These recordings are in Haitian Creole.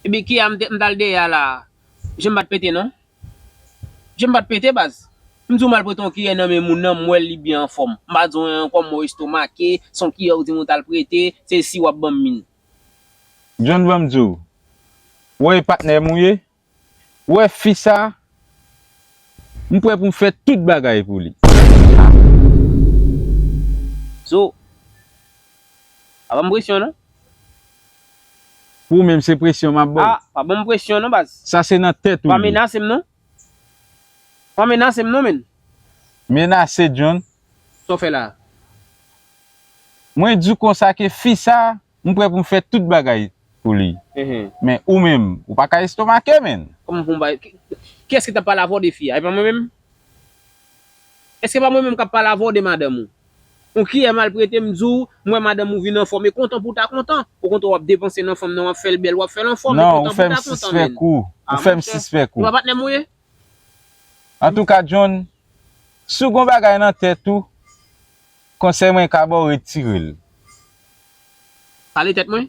Ebyn kia m tal deye a la Jem pat pete non Jem pat pete baz M diw mal prete yon kiyè nan men moun nan m wèl li byen anfòm m pa diw anyen ankò m wèw estomake se yon kiyè ou dim ou tal prete se si wap banm min. John banm diw Ou wè e patnè m ou ye Ou wè fi sa m prè pou m fè tout bagay pou li. Zo Pa banm presyon non. Pou ou menm se presyon map baw. Ah pa banm presyon non baz. Sa se nan tèt ou li. Pa menase m non. Pa menase m non menn. Menase John. Sa w fè la a? Mwen diw konsa ke fi sa M prè pou m fè tout bagay pou li. Men ou menm, ou pa ka estomake menn. Kòman pou m bay. Kiyès ki t ap pale avè w de fi a? E pa mwen menm? Èske pa mwen menm k ap pale avè w de madanm ou? On kiyè malprete m di w, m wè madanm ou vin anfòm. E kontan pou w ta kontan. Ou kontan w ap depanse nan fanm nan, w ap fè l bèl, w ap fè l anfòm. E kontan pou w ta kontan menn. Non, ou fè m sispèk ou. A monchè, se pa patnè m ou ye? Antouka John, si w gen yon bagay nan tèt ou. Konsèy mwen ka baw retirel. Pale tèt mwen?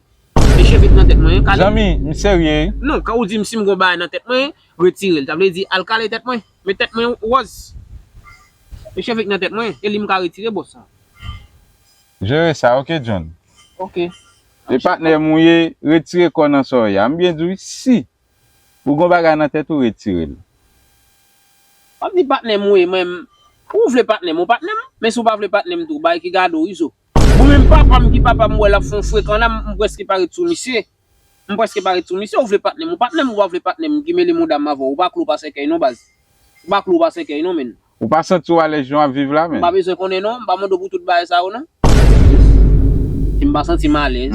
E cheve ki nan tèt mwen? Kale? Zanmi, m serye wi. Non, kan ou di m si m gon bagay nan tèt mwen, retirel. Sa vle di al kale tèt mwen. Men tèt mwen wòz. E cheve ki nan tèt mwen? E li m ka retire bòs sa? Jere sa ok John. Ok. E patnè m ou ye, retire kò nan sa w ye a. M byen di wi si. Ou gon bagay nan tèt ou retirel. Wap di patnèm ou e mwen Ou vle patnèm ou patnèm men si ou pa vle patnèm tou bay ki gade w izo. Bon menm papam ki papam m wè lap fon frekanna m preske pa ret sou misye m preske pa ret sou misye ou vle patnèm ou patnèm ou pa vle patnèm m ki mele moudam avèw ou pa klo pa sèkèy non baz ou pa klo pa sèkèy non menn. Ou pa santi w alèz jan wap viv la menn. M pa bezwen konnen non m pa mande w pou tout bagay sa yo non. Si m pa santi m alèz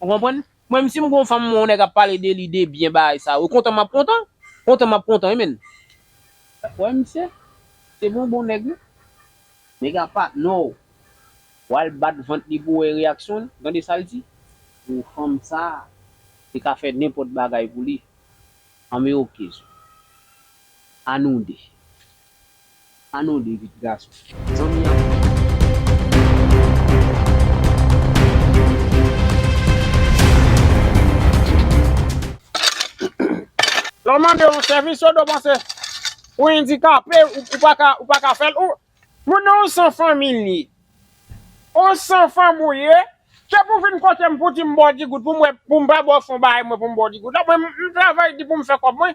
Ou konprann? Mwen menm si m gon fanm mwen yon nèg ap pale de li de byen bagay sa yo kontan map kontan kontan map kontan wi menn. Wè misye se bon bon nèg wi. Nèg a pa non w wal bat vant li pou wè reyaksyon l, tande sa l di? Pou fanm sa te ka fè nenpòt bagay pou li anmeyokez ou a nou 2. Anou li vit gason. Zanmi an. Lè w mande yon sèvis yo do panse ou endikape ou paka ou paka fè l ou moun nan yon san fanmi l ye yon san fanm ou ye se pou vin kote m pou di m ba w digout pou m wè pou m pa ba w fon bagay mwen pou m ba w digout la mwen m travay di pou m fè kòb mwen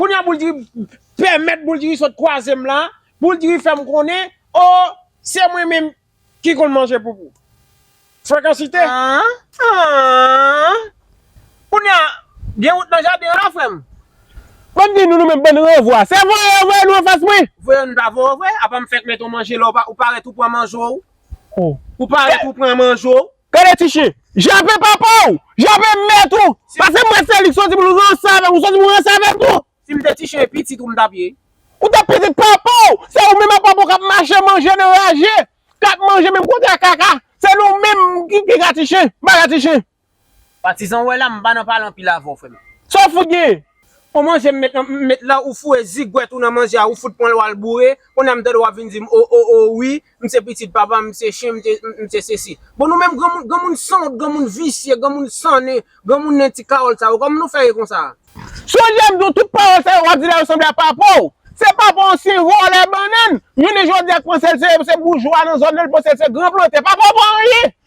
Kounya bouldiri pèmèt bouldiri sot kwazem la bouldiri fèm konnen oh se mwen menm ki konn manje poupou frekansite ahh ahh kounya gen wout nan jaden an la frèm. Bann di nou nou menm bann ranvwa se voye yo voye nou anfas mwen. Voye yo nou ta voye w vre apa m fèk met on manje la ou parèt ou pran manjew ou parèt ou pran manjew. Gade ti chien. Jape papa ou. Jape mèt ou. Pase mwen Felix soti pou nou ranse avèm ou soti pou ranse avèm tou. Sim te ti chien pitit ou m tap ye. Ou tap pitit papa ou. Se ou menm ak papa ou kap mache manje nan raje. Kap manje menm kote ak kaka. Se nou menm ki piga ti chien. Baga ti chien. Patizan ou wè la m pa nan pale anpil avèw frèm. Saw fout genyen? On manje m met la ou foure zigwèt ou nan manje a ou fout pranl wal boure, kounya m tande wap vin dim oh oh oh wi m se pitit papa m se chen m se sesi. Bon nou menm granmoun granmoun sanwont granmoun visye granmoun san nen granmoun nen ti Carol sa yo kòman nou fè ye konsa a? Sonje m di w tout pawòl sa yo wap di la yo sanble a papa w. Se papa w se vòlè bannann, jounen jodi a k panse l se boujwa nan zòn nan l panse l se gran plantè, papa w pa anyen!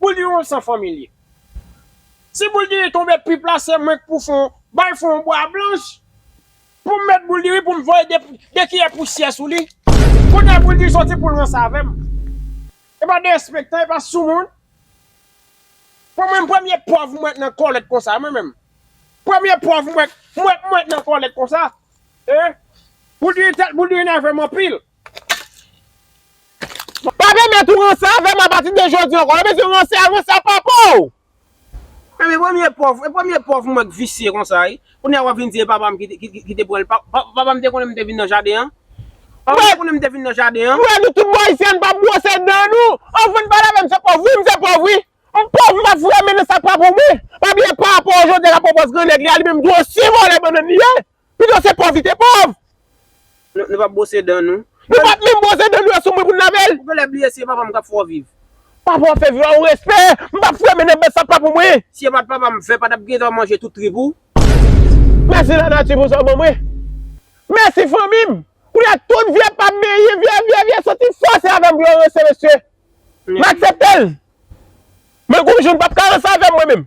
Boul di yon san fanmi li. Si boul diri tonbe pip la se mwenk pou fon bay fon bwa blanch poum met boul diri poum voye de kiyè pousyè sou li kounye boul diri soti poul ranse avèm epa derespektan epa sou moun pou mwen premye pòv mwen nan kòlèt konsa mwen menm premye pòv mwen mwen nan kòlèt konsa ee boul diri nèvem anpil. Pa pèmèt ou ranse avèm apati de jodi ankò. Ebyen si ou ranse a ranse a papa ou. Mwen se premye pòv, e premye pòv mwen k visye konsa wi, kounya wap vin di e papam ki te pranl, papam te konnen m te vin nan jaden an? Papam te konnen m te vin nan jaden an? Frè nou tout bon ayisyen ann pa bwose dan nou, anvan n pale avè m se pòv wi m se pòv wi, m pòv m pa fremen nan sa k pa pou mwen, pa bliye papa w jodi a kap pwopòz gran nèg li a li menm tou osi vòlè bannan n li ye. Pito se pòv li te pòv. Nou pap bwose dan nou. Nou pap menm bwose dan nou yo sou mwen pou n lave l. Ou genlè bliye si e papa m kap fè w viv. Papa w ap fè viv a ou respè. M pap fè men nan bèt sa p pa pou mwen. Si e pat papa m fè pa tap gen tan manje tout trip ou. Mèsi lanati pou sa w ban mwen. Mèsi fanmi m. Kounye a tout vye pa m benyen vye vye vye soti fò se avè m pou yo ranse mesye. M aksepte l. Men konjou n pap ka ranse avè m mwen menm.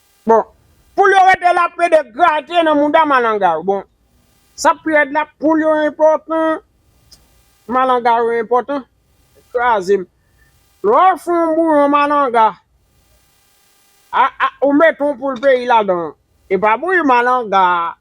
Bon poul yo rete la pede grate nan mouda malanga yo bon sa pi red la poul yo enpotan malanga yo enpotan krazem lè w fon bouyon malanga a ou met on poul peyi ladan epa bouyi malanga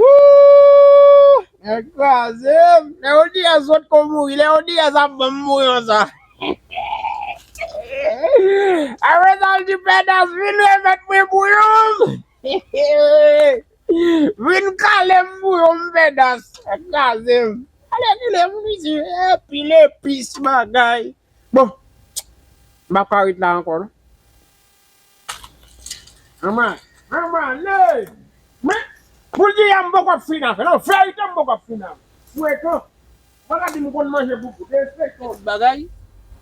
Ooh nèg krazem Leo Diaz sot ko mouri Leo Diaz ap banm mouri ansa Apre sa l di Pedas vin remèt mwen bouyon m vin kalem bouyon m Pedas nèg krazem alèkile moun isi anpil epis bagay bon m pap ka ret la ankò non. Mama mama ley men poul di ya m poko ap fin avèl an verite m poko ap fin avèl frekan paka dim konn manje bout de feyton tout bagay.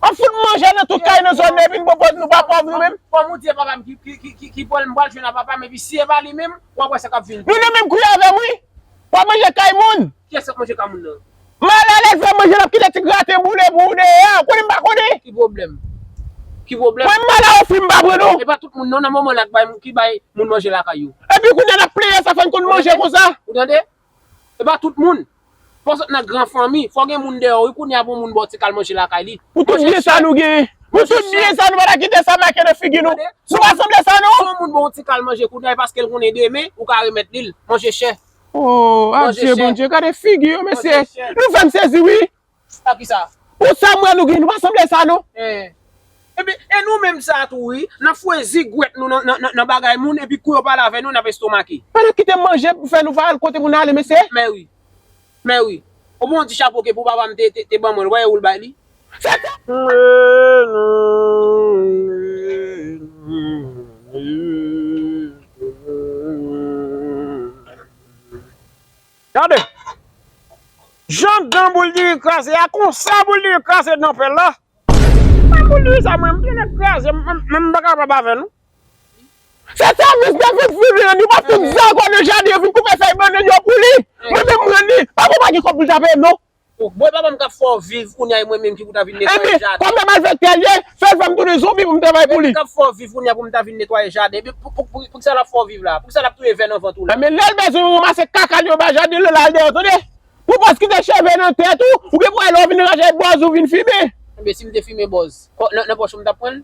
Wap fout manje nan tout kay nan zòn nan epi nou pa nou pa pòv nou menm. Fanm ou di e papam ki pranl m pral jwenn a papam epi si e pa li menm wap wè sa kap vin. Nou nan menm kri avèm wi. Pa manje kay moun. Kiyès kap manje ka moun nan? Mal alèz lap manje lap kite ti graten boule pou ou deyè. Ou konnen m pa konnen? Ki pwoblèm? Ki pwoblèm? Mwen mal a ofri m pa pran non. E pa tout moun non nan moman la ki bay moun manje lakay yo. Epi kounya nap plenyen sa fò n konn manje konsa. Ou tande? E pa tout moun. Fò sot nan gran fanmi. Fò gen moun deyò wi kounya pou moun ba w ti kal manje lakay li. Pou tout byen sa nou genyen. Pou tout byen sa nou pa ta kite sa make nan figi nou. Nou pa sanble sa non. Si yon moun ba w ti kal manje kounya e paske l konnen demen ou ka remèt li l. Manje chè. Oh adye bondye gade figi yo mesye nou fèm sezi wi pou sa mwen nou gen nou pa sanble sa non. Epi e nou menm sa tou wi nap fwe zigwèt nou nan bagay moun epi kou yo pale avè nou nap estomake. Pa nan kite manje pou fè nou pa al kote pou nale mesye. Mèwi mèwi o bon di chapo ke pou papa m te ban mwen l wè e ou l bay li. Gade Jan dan boul diri kraze a konsa boul diri kraze dan pèl la Menm boul diri sa menm li mèt kraze menm m pa kapab avè nou Se sèvis de vit vin ranni pa tout zango nan jaden yo vin koupe fèy bannann yo pou li Mwen menm m ranni Pako pa gen kòb pou l ta peye non. Ou bon e pa manm kap fè w viv kounya e mwen menm ki pou ta vin netwaye jaden. Ebyen kòm e malfèktè l ye, fè l fè m tounen zonbi pou m travay pou li. Epi kap fè w viv kounya pou m ta vin netwaye jaden. Epi poukisa lap fè w viv la? Poukisa lap touye vè nan vant ou la? Ebyen lè l bezwen ou ranmase kaka li anba jaden l yo la al deyò tande. Pou pòs kite cheve nan tèt ou, ou gen pou wè lè w vin raje bòz ou vin fimen. Ebyen si m te fimen bòz, nan pòch ou m tap pran l?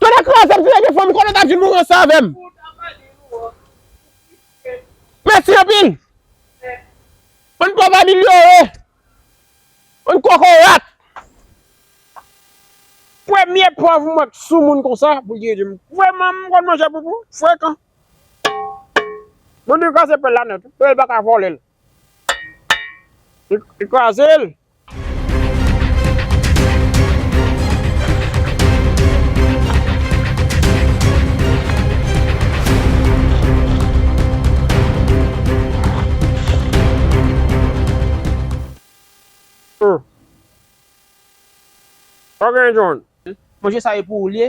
Tonnè krazem si se te fanm m konnen w tap vin mouri ansan avèm. Mèsi anpil. Bann pòv amilyore. Bann kokorat. Premye pòv m wè k sou moun konsa pou l di ede m. Vrèman m konn manje poupou? Frekan. Moun di kraze pèl la nèt wi. Pèl paka vòlè l. Li kraze l! Manje sa e pou ou l ye?